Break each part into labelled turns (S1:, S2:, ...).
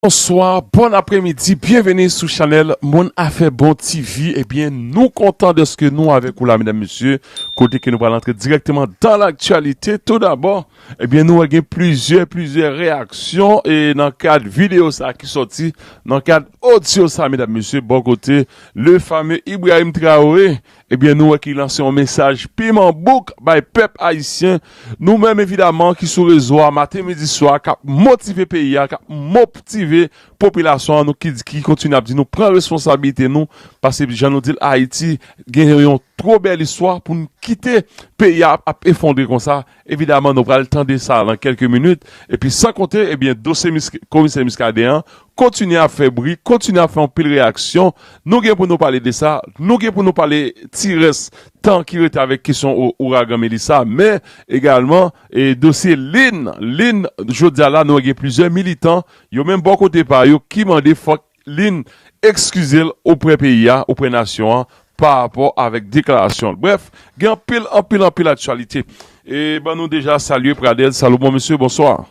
S1: Bonswa bon apremidi byenveni sou chanèl moun afè bon TV ebyen nou kontan dèske nou avèk ou la medam mesye kote ke nou pral antre dirèkteman dan laktyalite tou dabò ebyen nou wè gen plizyè plizyè reyaksyon e nan kad video sa ki sòti nan kad odyo sa medam mesye bò kote le fame Ibrahim Traore Ebyen nou wè ki lanse yon mesaj piman bouk bay pèp ayisyen, nou menm evidaman ki sou rezo a maten midi swa kap motive peyi a, kap moptive popilasyon an, nou ki kontinye ap di nou pran responsabilite nou paske jan nou dil Ayiti gen yon two bèl istwa poun kite peyi a ap efondre konsa Evidaman nou pral tande sa lan kelke minit epi san konte ebyen dosye komisè Muscadin an kontinye ap fè bri, kontinye ap fè anpil reyaksyon, nou gen pou nou pale de sa, nou gen pou nou pale ti rès tan ki rete avèk kesyon ouragan Melissa men egalman e dosye Lynn, Lynn jodi a la nou wè gen plizyè militan yo menm bò kote pa yo ki mande fòk Lynn ekskize l oprè peyi a, oprè nasyon an pa rapò avèk deklarasyon l. Brèf, gen anpil, anpil, anpil aktyalite. E ban nou deja salye Pradel Salomon. Mesye, bonswa.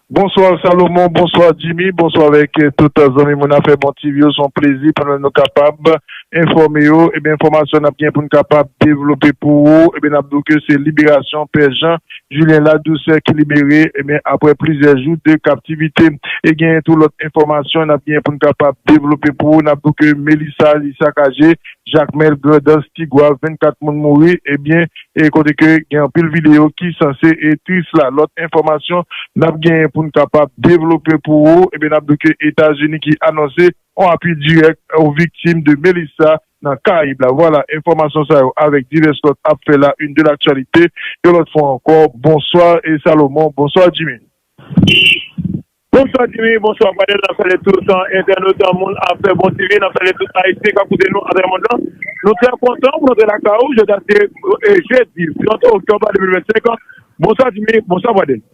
S2: Bonswa Salomon, bonswa Jimmy, bonswa avèk tout zanmi moun afè Bon TV yo. S on plezi pou nou kapab enfòme ou. Ebyen enfòmasyon n ap gen pou n kapab devlope pou ou, ebyen n ap di w ke se liberasyon Pè Jan Julien La Douceur ki libere ebyen aprè plizyè jou de kaptivite e genyen tou lòt enfòmasyon nap genyen poun kapab devlope pou ou nap di w ke Melissa li sakaje Jacmel Grandans Tigwav 24 moun mouri ebyen e kote ke gen anpil video ki sanse e tris la lòt enfòmasyon nap genyen poun kapab devlope pou ou ebyen nap di w ke Etazini ki anonse on apui dirèk o viktim de Melissa nan Karayib la. Vwala, enfòmasyon sa yo avèk divès lòt ap fè la une de l'actualité yon lòt fwa ankò. Bonswa Salomon, bonswa Djimi. Bonswa
S3: Djimi, bonswa Fadèl, n ap salye tout entènot moun Afè Bon TV, n ap salye tout Ayisyen k ap koute nou atravè mond lan. Nou trè kontan pou nou antre lakay ou jodi a se jedi 30 oktòb 2025. Bonswa Djimi, bonswa Fadèl.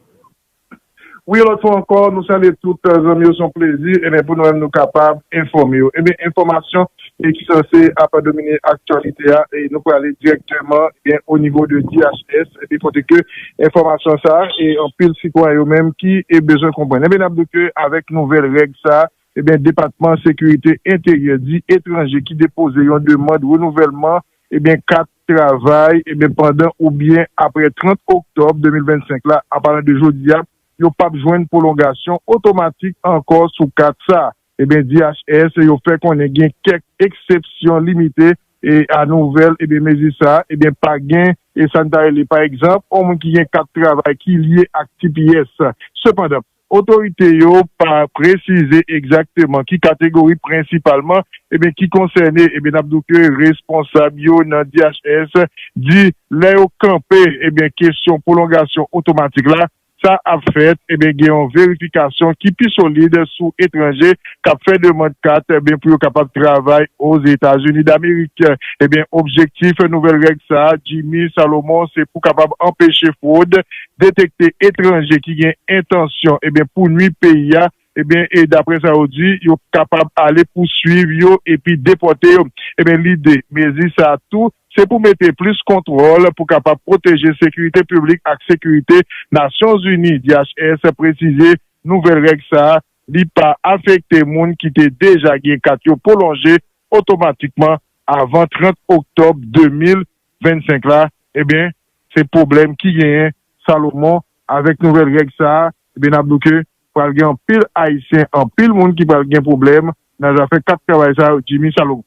S2: Wi yon lòt fwa ankò nou salye tout zanmi yo se yon plezi enben pou nou menm nou kapab enfòme yo enben enfòmasyon e ki sanse ap domine aktyalite a e nou prale dirèktèman enben o nivo de DHS enben kote ke enfòmasyon sa e anpil sitwayen yo menm ki e bezwen konprann enben nap di ke avèk nouvèl règ sa enben depatman sekirite enteryè di etranje ki depoze yon demand renouvèlman enben kat travay e men pandan oubyen apre 30 oktòb 2025 la, an palan de jodi a, yo p ap jwenn pwolongasyon otomatik ankò sou kat sa e men DHS yo fè konnen gen kèk eksepsyon limite e a nouvèl e men mezi sa e men pa gen e sa n ta rele pa egzanp on moun ki gen kat travay ki lye ak tps sepandan Otorite yo pa presize egzakteman ki kategori prensipalman ebyen ki konsène ebyen nap do ke responsab yo nan DHS di lè yo kanpe ebyen kesyon pwolongasyon otomatik la sa ap fèt ebyen gen yon verifikasyon ki pi solid sou etranje kap fè demand kat ebyen pou yo kapab travay Ozetazini Damerik ebyen objektif nouvèl règ sa Jimmy Salomon se pou kapab anpeche fwod detekte etranje ki gen entansyon ebyen pou nwi peyi a ebyen e daprè sa yo di yo kapab ale pouswiv yo epi depòte yo ebyen lide mezi sa tou se pou mete plis kontwòl pou kapab pwoteje sekirite piblik ak sekirite Nasyonzini DHS presize nouvèl règ sa li pa afekte moun ki te deja gen kat yo pwolonje otomatikman avan 30 oktòb 2000. 25 la, ebyen se pwoblèm ki genyen Salomon avèk nouvèl règ sa a, ebyen n ap di w ke pral gen anpil Ayisyen, anpil moun ki pral gen pwoblèm nan zafè kat travay sa yo Jimmy Salomon.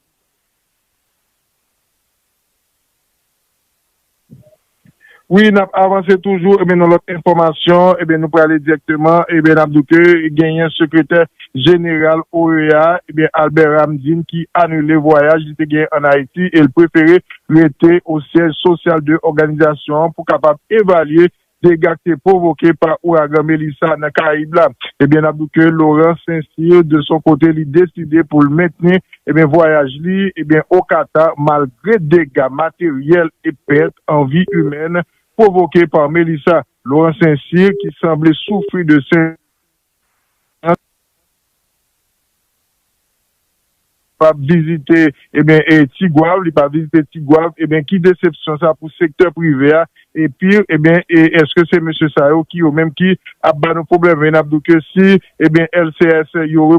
S2: Wi n ap avanse toujou ebyen nan lòt enfòmasyon ebyen nou prale dirèkteman ebyen n ap di w ke genyen sekretè. jeneral OEA a, ebyen Albert Ramdin ki anile vwayaj li te gen an Ayiti e l prefere rete o syèj sosyal de òganizasyon an pou kapab evalye dega k te pwovoke pa ouragan Melissa nan Karayib la. Ebyen n ap di w ke Laurent Saint-Cyr de son kote li deside pou l mentni ebyen vwayaj li ebyen o Qatar malgre dega materyèl e pèt an vi imèn pwovoke par Melissa. Laurent Saint-Cyr ki sanble soufri de sen. pa vizite ebyen tigwav li pa vizite tigwav ebyen ki desepsyon sa pou sektè prive a epi ebyen eske se mesye sa yo ki yo menm ki ap ba nou pwoblèm e nap di w ke si ebyen LCS yo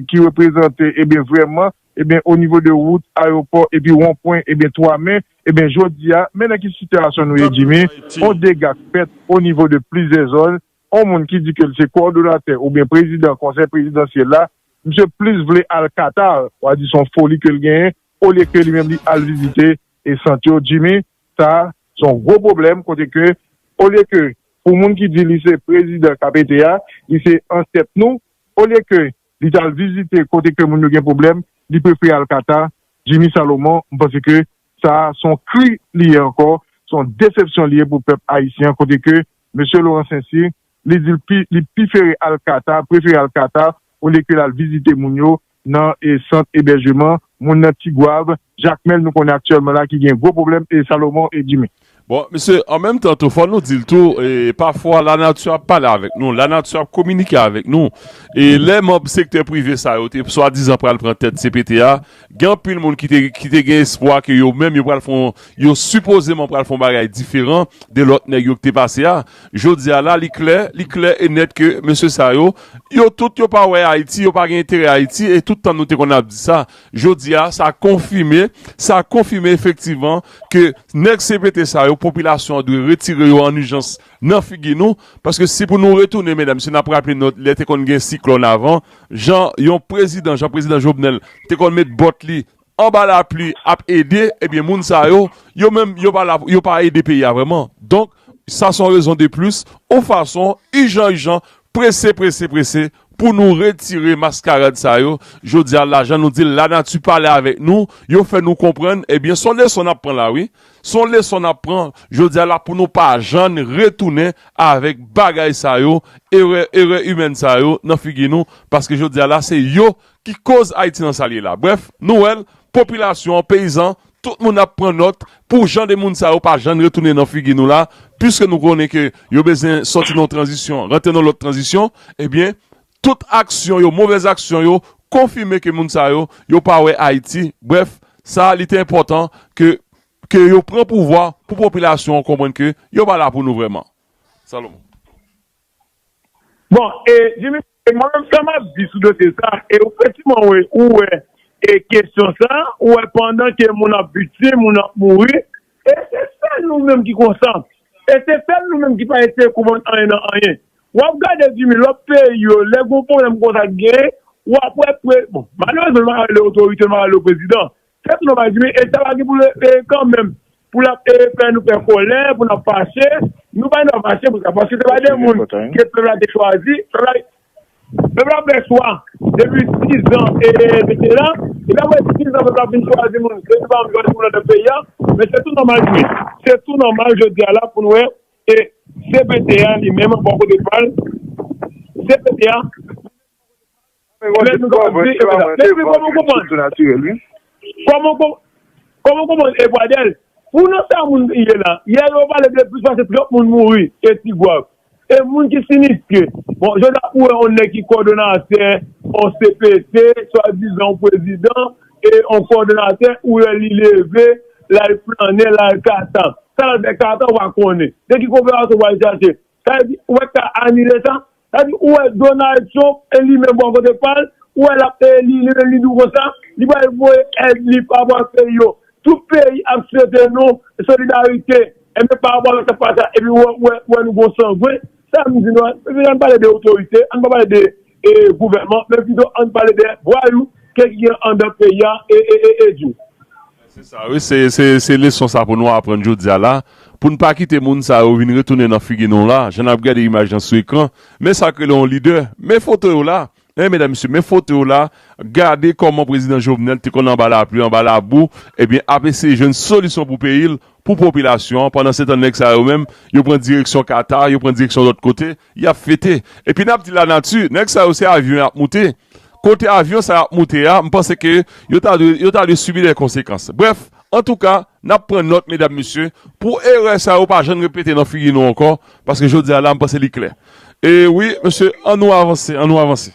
S2: ki reprezante ebyen vrèman ebyen o nivo de wout ayewopò epi wonpwen ebyen 3 me ebyen jodi a men nan ki sitiyasyon nou ye Jimmy on dega k fèt o nivo de plizyè zòn On moun ki di ke l se kowòdonatè oubyen prezidan konsèy prezidansyèl la, misye plis vle al Qatar, wa di son foli ke l genyen, olye ke li menm li al vizite e sant yo, Jimmy, sa a son gwo pwoblèm kote ke olye ke pou moun ki di li se prezidan kap ete a, li se antèt nou, olye ke li t al vizite kote ke moun yo gen pwoblèm, li prefere al Qatar, Jimmy Salomon, m panse ke sa a son kri li ye ankò, son desepsyon li ye pou pèp ayisyen an kote ke Mesye Laurent Saint-Cyr, li di li pifere al Qatar, prefere al Qatar olye ke lal vizite moun yo nan sant ebèjeman moun nan Tigwav, Jakmèl nou konnen aktyèlman la ki gen gwo pwoblèm e Salomon e Jimmy. Bon, mesye, an
S1: menm tan tou fò nou dil tou e pafwa la nati ap pale avèk nou, la nati ap kominike avèk nou e lè manb sektè prive sa yo te swadizan pral pran tèt CPT a, Gen anpil moun ki te gen espwa ke yo menm yo pral fè yon, yo sipozeman pral fè yon bagay diferan de lòt nèg yo ki te pase a. Jodi a la, li klè, li klè e nèt ke mesye sa yo, yo tout yo pa wè Ayiti, yo pa gen enterè Ayiti e tout tan nou te konn ap di sa. Jodi a, sa konfime, sa konfime efektivman ke nèg CPT sa yo, popilasyon an dwe retire yo an ijans Nan figi nou, paske si pou nou retounen medam, si nap raple nou lè te konn gen siklòn avan, jan yon prezidan, jan prezidan Jovenel te konn met bòt li anba lapli ap ede, ebyen moun sa yo, yo menm yo pa la, yo pa ede peyi a vrèman. Donk, sa son rezon de plis, ou fason, ijan ijan, prese prese prese Pou nou retire maskarad sa yo, jodi a la jan nou di l lanati pale avèk nou, yo fè nou konprann, ebyen s on leson n ap pran la wi, s on leson n ap pran jodi a la pou nou pa jann retounen avèk bagay sa yo, erè erè imèn sa yo nan figi nou, paske jodi a la se yo Ki koz Ayiti nan sa l ye la. Brèf, nou wè l, popilasyon an, peyizan, tout moun ap pran nòt pou jan de moun sa yo pa jann retounen nan figi nou la, piske nou konnen ke yo bezwen sòti nan yon tranzisyon, rantre nan yon lòt tranzisyon, ebyen, tout aksyon yo, movèz aksyon yo, konfime ke moun sa yo, yo pa wè Ayiti. Brèf, sa li te enpòtan ke ke yo pran pouvwa pou popilasyon an konprann ke yo pa la pou nou vrèman. Salomon.
S3: Bon e Jimmy e mwen menm sa map di sou dosye sa e ou fè siman wè ou wè e kesyon sa ou wè pandan ke moun ap viktim moun ap mouri e se sèl nou menm ki konsa e se sèl nou menm ki pa eseye konprann anyen nan anyen wap gade Jimmy lòt peyi yo lè gon pwoblèm konsa ki genyen wap wè pre bon malerezman m pa rele otorite m pa rele yo prezidan Se tout nòmal di wi e sa pa gen pou l kanmenm pou l ap fè nou fè kòlè, pou n ap fache. Nou pa gen dwa fache pou sa paske se pa de moun ke pèp la te chwazi. Pèp la fè chwa depi sizan e mete la epi apre sizan pèp la fin chwazi moun se nou pa menm chwazi moun nan tèt peyi a men se tou nòmal di wi se tou nòmal jodi a la pou n wè e cpt a li menm bò kote pa l cpt a. Lè nou kapab di epa sa. Mezanmi koman w konprann? Koman w konprann e Pradèl? Pou nan sa moun ye la. Yè yo pale de plis pase 30 moun mouri e Tigwav. E moun ki siniske. Bon jodi a ou wè yon nèg ki kòdonatè yon cpt swadizan yon prezidan e yon kòdonatè ou wè li leve l al flannen l al kata. Sa l al fè kata ou pa konnen. De ki koperasyon ou pral chache? Sa vle di ou pa t ka anile sa? Sa vle di ou wè Donald Trump e li menm bò kote pa l, ou wè l ap eli, li menm li di w konsa, li pral voye èd li pa rapò ak peyi yo. Tout peyi ap swete nou solidarite, enben pa rapò avèk sa k pase a, epi ou wè nou gen yon sangwen. Sa m di nou an, mesye an n pale de otorite, an n pa pale de e gouvènman men pito ann pale de vwayou ke ki gen andan peyi a e e e e di. Se sa wi
S1: se se se leson sa pou nou aprann jodia la pou n pa kite moun sa yo vin retounen nan figi nou la jan nap gade imaj lan sou ekran men sak rele yon lidè men foto yo la hein medam mesye men foto yo la gade kòman prezidan jovenel te konn anba lapli anba labou ebyen ap eseye jwenn solisyon pou peyi l pou popilasyon an pandan se tan nèg sa yo menm yo pran direksyon Qatar yo pran direksyon lòt kote Yap fete. Epi nap di la nati, nèg sa yo se avyon yap moute. Kote avyon sa yap moute a, m panse ke yo ta dwe, yo ta dwe sibi dè konsekans. Brèf, antouka, nap pran nòt medam mesye, pou erè sa yo pa jann repete nan figi nou ankò, paske jodi a la m panse li klè. E wi mesye, an nou avanse, an nou avanse.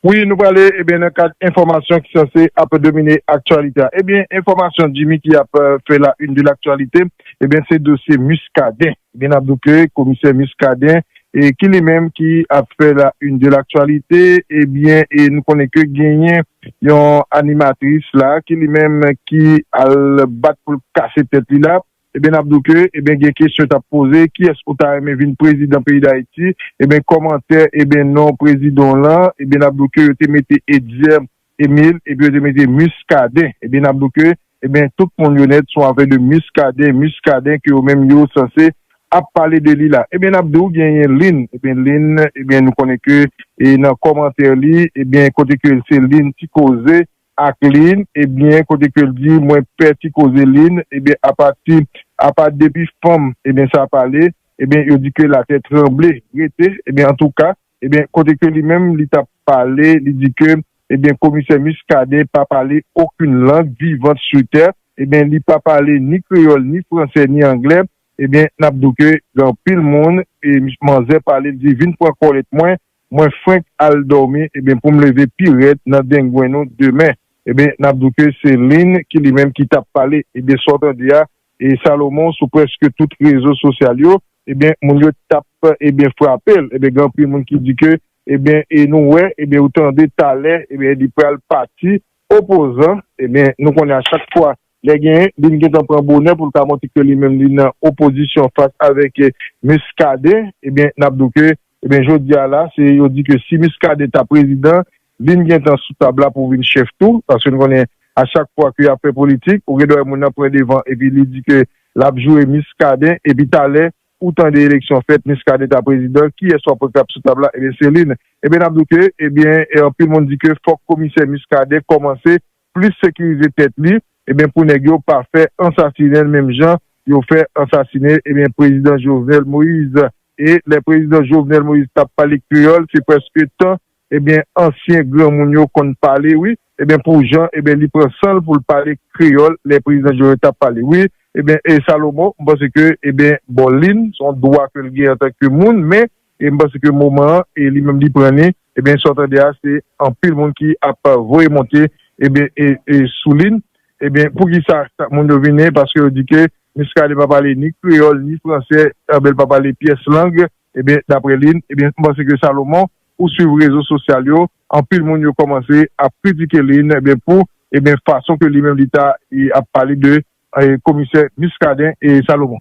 S1: Wi
S2: nou prale ebyen nan kad enfòmasyon ki sanse ap domine aktyalite a ebyen enfòmasyon Jimmy ki ap fè la une de l'actualité ebyen se dosye Muscadin ebyen nap di w ke komisè Muscadin ki li menm ki ap fè la une de l'actualité ebyen nou konnen ke genyen yon animatris la ki li menm ki al bat pou l kase tèt li la. Ebyen nap diw ke ebyen gen kesyon tap poze kiyès ou ta renmen vin prezidan peyi dayiti ebyen kòmantè ebyen non prezidon lan ebyen nap diw ke yo te mete Etzer Emile epi yo te mete Muscadin ebyen nap diw ke ebyen tout moun yo nèt son afè de Muscadin Muscadin ke yo menm yo sanse ap pale de li la ebyen nap diw genyen Lynn ebyen Lynn ebyen nou konnen ke e nan kòmantè li ebyen kote ke se Lynn ti koze ak Lynn ebyen kote kel di mwen pè ti koze Lynn ebyen apati apa depi fanm ebyen sa pale ebyen yo di ke latè tranble rete ebyen antouka ebyen kote ke li menm li tap pale li di ke ebyen komisè Muscadin pa pale okun lang vivant su tè ebyen li pa pale ni kreyòl ni fransè ni anglè ebyen nap di w ke gen anpil moun e manzè pale li di vin pran kòlèt mwen Mwen frenk al dòmi ebyen poum leve pi rèd nan dengwen nou demen ebyen nap di w ke se Lynn ki li menm ki tap pale ebyen sa w tande a e Salomon sou prèske tout rezo sosyal yo ebyen moun yo tap ebyen frape l ebyen gen anpil moun ki di ke ebyen e nou wè ebyen ou tande talè ebyen li pral pati opozan ebyen nou konnen a chak fwa Lè gen, li gentan pran bonè pou l ka montre ke li menm li nan opozisyon fas avèk Muscadin, ebyen n ap di w ke, ebyen jodi a la, se yo di ke si Muscadin ta prezidan, li gentan sou tab la pou vin chèf tou, paske n konnen a chak fwa ke y ap fè politik, ou gen dwa wè moun nan pran devan epi li di ke l ap joure Muscadin, epi talè ou tande eleksyon fèt, Muscadin ta prezidan, kiyès w ap wè k ap sou tab la, ebyen se li n. Ebyen n ap di w ke, ebyen anpil moun di ke fòk komisè Muscadin kòmanse plis sekirize tèt li ebyen pou nèg yo pa fè ansasinenl menm jan yo fè ansasine ebyen prezidan Jovenel Moise e lè prezidan Jovenel Moise tap pale kreyòl se prèske tan ebyen ansyen granmoun yo konn pale wi ebyen pou jan ebyen li pran sanl poul pale kreyòl lè prezidan Jovenel tap pale wi ebyen e Salomo mpanse ke ebyen bon lin son dwa kel gen antanke moun men E m panse ke moman an e li menm li pran li, ebyen sa w tande a se anpil moun ki ap voye monte ebyen e sou li, ebyen poukisa sa moun yo vini paske yo di ke Muscadin pa pale ni kreyòl ni fransè ebyen l pa pale pyès lang ebyen daprè li, ebyen m panse ke Salomon ou swiv rezo sosyal yo anpil moun yo kòmanse ap kritike li ebyen pou ebyen fason ke li menm li ta ap pale de komisè Muscadin e Salomon.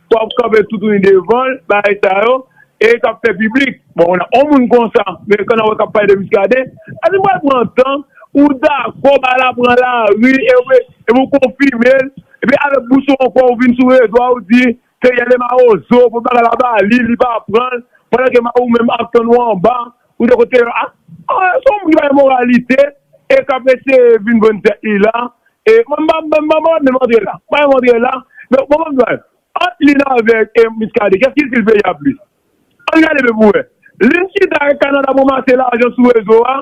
S3: Fò w kanpe toutouni devan l, bagay sa yo, e k ap fè piblik. Bon, yon moun konsa, men kè n ap wè k ap pale de Muscadin, èske m pral pran tan pou dakò bagay la pran lari e w e pou w konfime l, epi avèk bouch ou ankò ou vin sou rezo a ou di se Yèlè Mawozo, pou bagay la ba li, li pa pran l, pandan ke Mawou menm ap tann ou anba Ou de kote yo a? Ah se yon moun ki pa gen moralite e kap eseye vin vann tèt li la e mwen pa mwen pa menm antre la mwen pa menm antre la men bon banm di bagay ant li la avèk Muscadin kès ki sil peyi a plis ann gade byen pou wè lin chita ak Canada pou mase lajan sou rezo a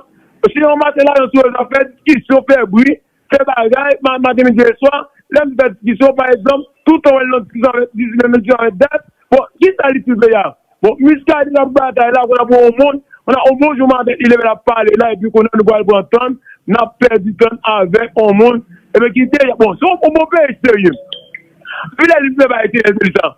S3: se yon mase lajan sou rezo a fè diskisyon fè bri Fè bagay, maten, midi e swa, lè m fè diskisyon, pa egzanp, tou tan w wè l nan diskisyon avèk Dizilè, menm diskisyon avèk Dat, bon, ki sa li plis vle a? Bon, Miskadin ap batay la, konn ap wè on moun, konn ap on bon jou maten, li leve l ap pale la, epi konn ap nou pral pran tan n, n ap pèdi tan n avèk on moun, epi ki deja, bon, se on bon peyi serye. Epi lè li vle bay ti lè l di l sa.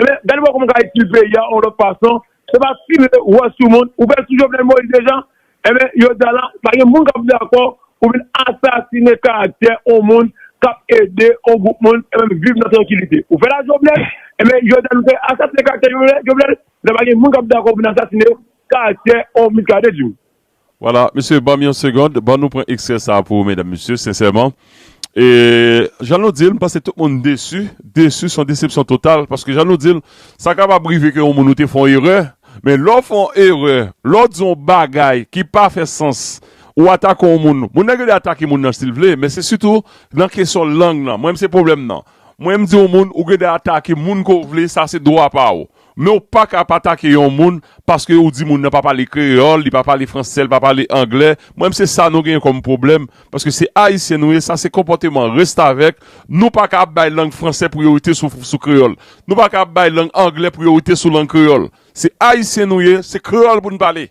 S3: Ebyen gade wè kòman ou ka itil peyi a yon lòt fason, se pa ti lè ou wè sou moun, ou pè sou Jovenel Moïse deja, ebyen jodi a la pa gen moun kap dakò pou vin asasine karaktè yon moun kap ede yon gwoup moun ebyen viv nan trankilite. Ou fè la Jovenel, ebyen jodi a nou fè asasine karaktè Jovenel, jodi a pa gen moun kap dakò pou vin asasine karaktè yon Miskaden tou. Voilà
S1: mesye banm yon segond ban nou pran ekstrè sa pou medam mesye sensèman e jan nou dil mpanse tout moun desu desu son desepsyon total paske jan nou dil sa kapab rive ke yon moun ou te fè yon erè men lè w fè yon erè lè w di yon bagay ki pa fè sans ou atake yon moun moun nan gen dwa atake moun nan sil vle men se sitou nan kesyon lang nan mwen menm se pwoblèm nan mwen mdi yon moun ou gen dwa atake moun ke w vle sa se dwa pa w Men ou paka ap atake yon moun paske ou di moun nan pa pale kreyòl, li pa pale fransè, li pa pale anglè. Mwen mnse sa nou genyen kòm pwoblèm paske se ayisyen nou ye, sa se konpòteman restavèk. Nou paka ap bay lang fransè priyorite sou kreyòl. Nou paka ap bay lang anglè priyorite sou lang kreyòl. Se ayisyen nou ye, se kreyòl pou n pale.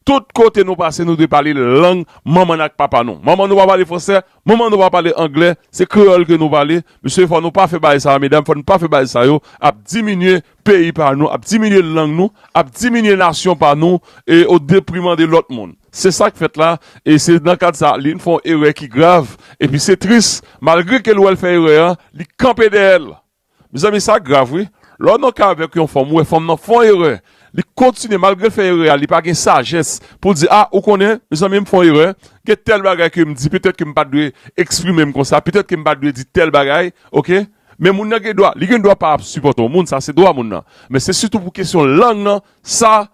S1: Tout kote nou pase nou dwe pale lang manman n ak papa nou. Manman nou pa pale fransè, manman nou pa pale anglè, se kreyòl ke nou pale. Mesye fò nou pa fè bagay sa yo, medam fò nou pa fè bagay sa yo, ap diminye peyi pa nou, ap diminye lang nou, ap diminye nasyon pa nou e o depriman de lòt moun. Se sa k fèt la e se nan kad sa Aline fè yon erè ki grav epi se tris malgre ke l wè l fè erè an li kanpe dèyè l. Mezanmi sa grav wi, lè w nan ka avèk yon fanm ou wè fanm nan fè yon erè, li kontinye malgre l fè erè a li pa gen sajès pou l di ah ou konnen mezanmi m fè yon erè, gen tèl bagay ke m di petèt ke m pat dwe eksprime m konsa, petèt ke m pat dwe di tèl bagay ok, men moun nan gen dwa li gen dwa pa ap sipòte yon moun sa se dwa moun nan, men se sitou pou kesyon lang nan sa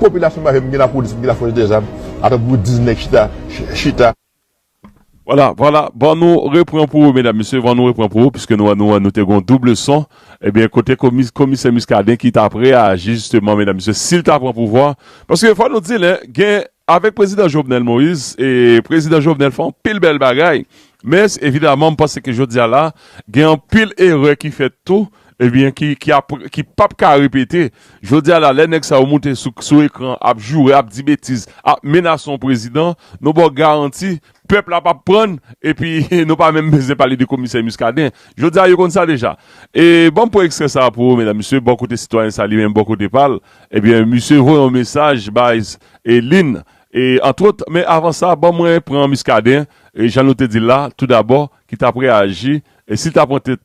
S4: Popilasyon pa vle m gen la polis m gen la fòs de zam aprè pou gwo diz nèg chita chita.
S1: Vwala vwala van nou repran pou ou medam mesye van nou repran pou ou piske nou wè nou wè nou te gon double son ebyen kote komi komisè Muscadin ki tap reyaji jisteman medam mesye sil ta pran pouvwa paske fò nou dil hein gen avèk prezidan Jovenel Moïse e prezidan Jovenel fè anpil bèl bagay men evidaman m panse ke jodia la gen anpil erè ki fèt tou Ebyen ki ap ki pap ka repete jodi a la lè nèg sa yo moute sou ekran ap joure ap di betiz ap menase yon prezidan nou baw garanti pèp la pap prann epi nou pa menm bezwen pale de komisè Muscadin jodi a yo konn sa deja e banm pran ekstrè sa pou ou medam mesye bò kote sitwayen sa li menm bò kote pal ebyen misye voye yon mesaj bay Lynn e antwot men avan sa ban mwen pran Muscadin jan nou te dil la tou dabò ki tap reyaji si ta pran tèt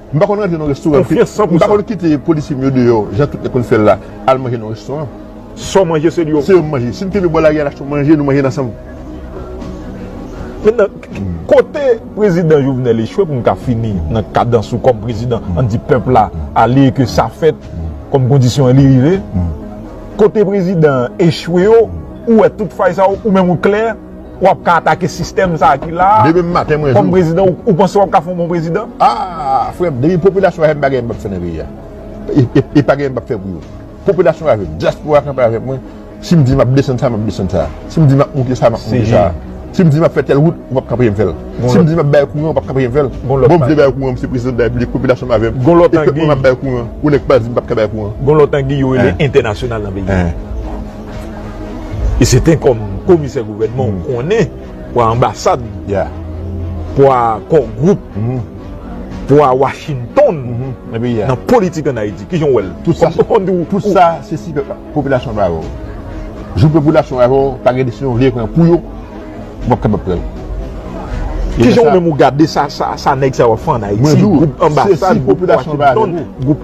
S4: M pa konn rantre nan restoran pi. M pa konn kite polisye m yo deyò jan tout nèg konn fè l la, al manje nan restoran. Sa w manje se li yo. Se yo m manje. Si m kenbe bò lari al achte yon manje, nou manje l ansanm. Mentnan, kote prezidan Jovenel echwe pou m ka fini nan kadans ou kòm prezidan, an n di pèp la ale e ke sa fèt kòm kondisyon an li rive, kote prezidan an echwe yo, ou wè tout fay sa yo, ou menm ou klè, Wap ka atake sistèm sa ki la a Demen maten mwen jou. Kòm prezidan ou panse wap ka fè yon bon prezidan? Aah frèm depi popilasyon avèm pa gen bak fè nan peyi a e pa gen bak fè pou yo popilasyon avèm diaspora kanpe avèk mwen sim di map desann sa map desann sa sim di map moute sa map moute sa sim di map fè tèl wout ou pap ka anpechem fèl sim di map bay kouran ou pap ka anpechem fèl bonm vle bay kouran mse prezidan de la repiblik popilasyon avèm e pèp mwen map bay kouran ou nèk pal dim pap ka bay kouran. Gon lòt anguy yo rele entènasyonal nan peyi a. E se ten kòm komisè gouvènman ou konnen pwa anbasad, pwa kò gwoup, pwa Washington nan politik an Ayiti. Kijan ou wè l? Tout sa se si popilasyon pa avè w. Jou popilasyon avè w, pa gen desizyon ou vle pran pou yo. Ou pap kapab pranl. Kijan ou menm ou gade sa nèg sa yo ap fè an Ayiti? Mwen di w, se si popilasyon an pa avèk ou.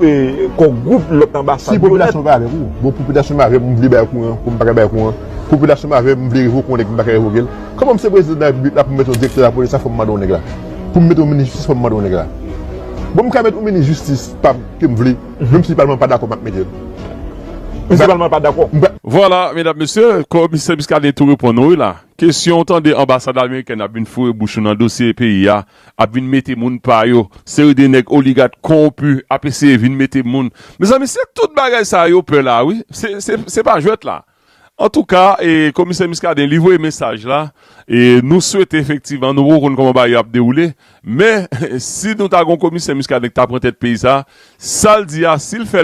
S4: Kò gwoup lòt anbasad yo. Si popilasyon an pa avèk ou. Bon popilasyon pa avèm m vle bay kouran pou m pa ka bay kouran. Popilasyon pa avèm m vle revoke yon nèg m pa ka revoke l. Kòman m se prezidan de la repiblik la pou m mete yon direktè lapolis la fò m mande yon nèg la. Pou m mete yon minis jistis fò m mande yon nèg la. Bon m ka mete yon minis jistis pa m ke m vle. Menm si palman pa dakò map mete l. Menm si palman pa dakò. Vwala
S1: medam mesye, komisè Muscadin tou reponn nou wi la. Kesyon ou tande anbasad amerikèn ap vin foure bouch nou nan dosye peyi a, ap vin mete moun pa yo, seri de nèg oligat kowonpi ap eseye vin mete moun. Mezanmi se tout bagay sa yo pè la wi, se pa jwèt la. Antouka e komisè Muscadin li voye mesaj la e nou swete efektivman nou poko konn koman bagay yo ap dewoule men si nou ta gon komisè Muscadin ki ta pran tèt peyi sa sal di a sil fè